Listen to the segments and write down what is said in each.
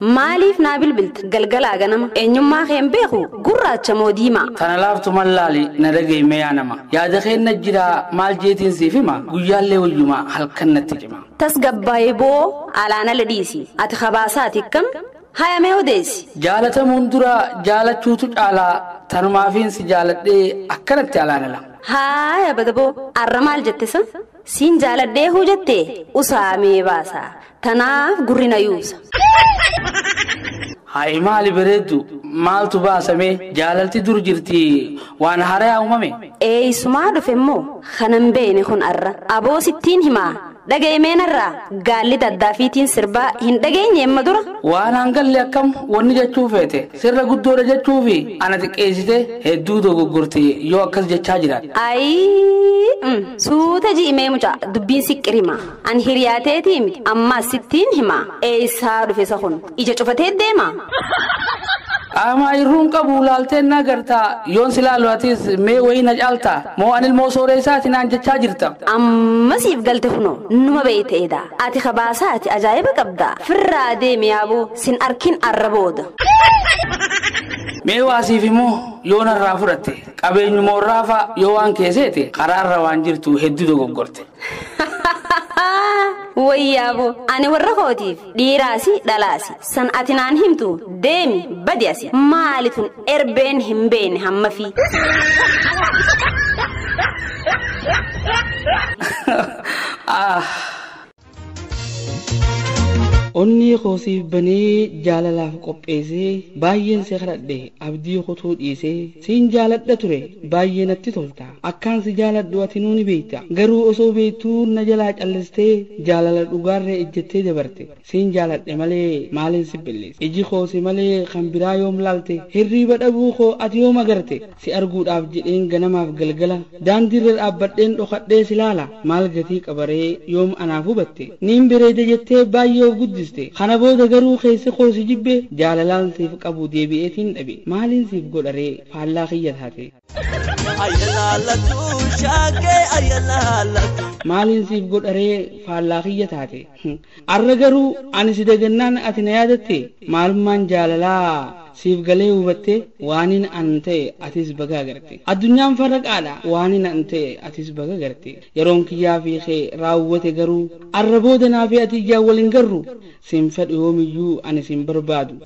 Maaliif naa bilbilta galgalaa ganama eenyummaa kee hin beeku gurraacha moo diimaa. Tana laaftu mal laali na dhagayi mee yaa nama yaada keenna jira maal jeetiin siif hima guyyaallee wayyuma halkan natti cima. Tasgabbaayi boo alaanale dhiisi ati kabaasaati ikkam haya mee odeessi. Jaalatamuun dura jaalachuutu caala tanumaafiin si jaaladhee akkanatti alaanala. Haaya bada boo arra maal jette sa. Siin jaaladhee huu jette usaa mee baasa tanaaf gurri na yuusa. Hayi maali bareeddu maaltu baasamee jaalalti dur jirti waan harayaa uumame. Eeysumaa dhufe immoo kanan beeyne kun arra aboo sittiin himaa dhaga'i mee narraa gaalli daddaafiitiin sirbaa hin dhageenye amma dura. Waan hangalle akkam wanni jechuu feete. Sirra guddoodha jechuufi ana xiqqeessite hedduu dogoggorte yoo akkas jechaa jiraat. Ayii mm, suuta ji'i mee mucaa dubbiin siqqirima an hiriyaa teetii miti ammaas sittiin hima eessaa dhufe isa kun ija cufatee deema. Qaamaa irruun qabu laalteen na gartaa yoon si laalu atis mee wayii na caaltaa moo an ilmoo sooreessaati naan jechaa jirta. Amma siif galte kunoo numa beeyte edaa ati kabaasaati ajaa'iba qabda firraa deemi yaaboo. Sin arkin arra booda. Mee waa siif himoo yoo narraa fudhatte qabeenyuma warraa faa yoo waan kee seete karaarra waan jirtu hedduu dogoggorte. Wayyaabo ani warra kootiif dhiiraasi dhalaasi san ati naan himtu deemi badi asi maali tun erbeen hin beekne hammafii. Ah. Onnee koo siif banee jaalalaaf qopheessee baay'een si kadhadhe abdii kutuu dhiisee siin jaaladha ture baay'ee natti tolta akkaan si jaaladhu atinuu ni beekta garuu osoo beektuu na jalaa callistee jaalala dhugaarree ejjettee dabarte siin jaaladhe malee maaliin si billis iji koo si malee kan biraa yoom laalte hirriiba dhabuu koo ati yoom agarte Si arguudhaaf jedheen ganamaaf galgala Daandiirra dhaabbadheen dhokadhee si laala Maal gatii qaba ree yoom anaaf hubatte Niin bereeda jettee baay'ee of guddiste Kana booda garuu keessi koo si jibbe Jaalalaan siif qabu deebi'eetiin dhabe Maaliin siif godha ree faallaa kiyya taate Ayalaalatu shaagee ayalaalatu. Maaliin siif godha ree faallaa kiyya taate. Arra garuu ani si dagannaan ati na yaadatte maalummaan jaalalaa siif galee hubatte waanin an ta'e atis baga agarte addunyaan farraqaadha waanin an ta'e atis baga agarte yeroon kiyyaa fi kee raawwate garuu arra booda naa fi ati ijaan wal hin garru sin fedhu yoomiyyuu ani sin barbaadu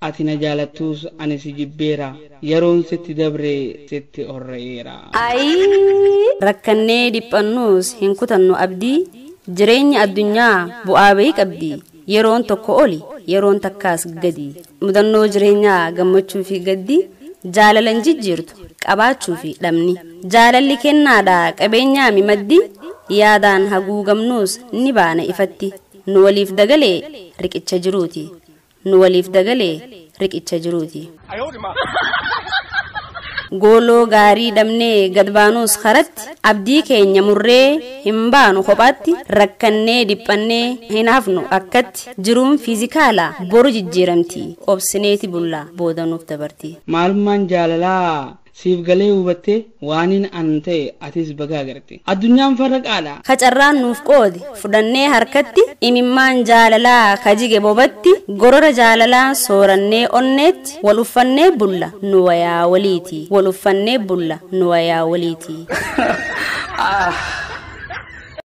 Ati na jaalattuus ani si jibbeera, Yeroon sitti dabre sitti orra'eera. Ayii! Rakkannee dhiphannuus hin kutannu abdii, Jireenyi addunyaa bu'aa ba'ii qabdi, Yeroon tokko oli, yeroon takkaas gadi, Mudannoo jireenyaa gammachuu fi gaddi, Jaalala hin jijjiirtu qabaachuu fi dhabni. Jaalalli kennaadha qabeenyaami maddi, Yaadaan haguugamnuus ni baana ifatti, Nu waliif dagalee riqicha jiruuti. Nu waliif dagalee riqicha jiruuti. Gooloo gaarii dhabnee gad baanuus karatti abdii keenya murree hin baanu kophaatti rakkannee dhiphannee hin hafnu akkatti jiruun fiizikaala boru jijjiiramti obsineeti bulla booda nuuf dabarti. Maalummaan jaalalaa Siif galee hubattee waanin an ta'e atis baga agarte. Addunyaan farra qaadha. Ka carraan nuuf qoode fudhannee harkatti imimmaan jaalalaa ka jige bobatti gorora jaalalaan soorannee onneetti wal uffannee bulla nu wayaa waliiti wal uffannee bulla nu wayaa waliiti.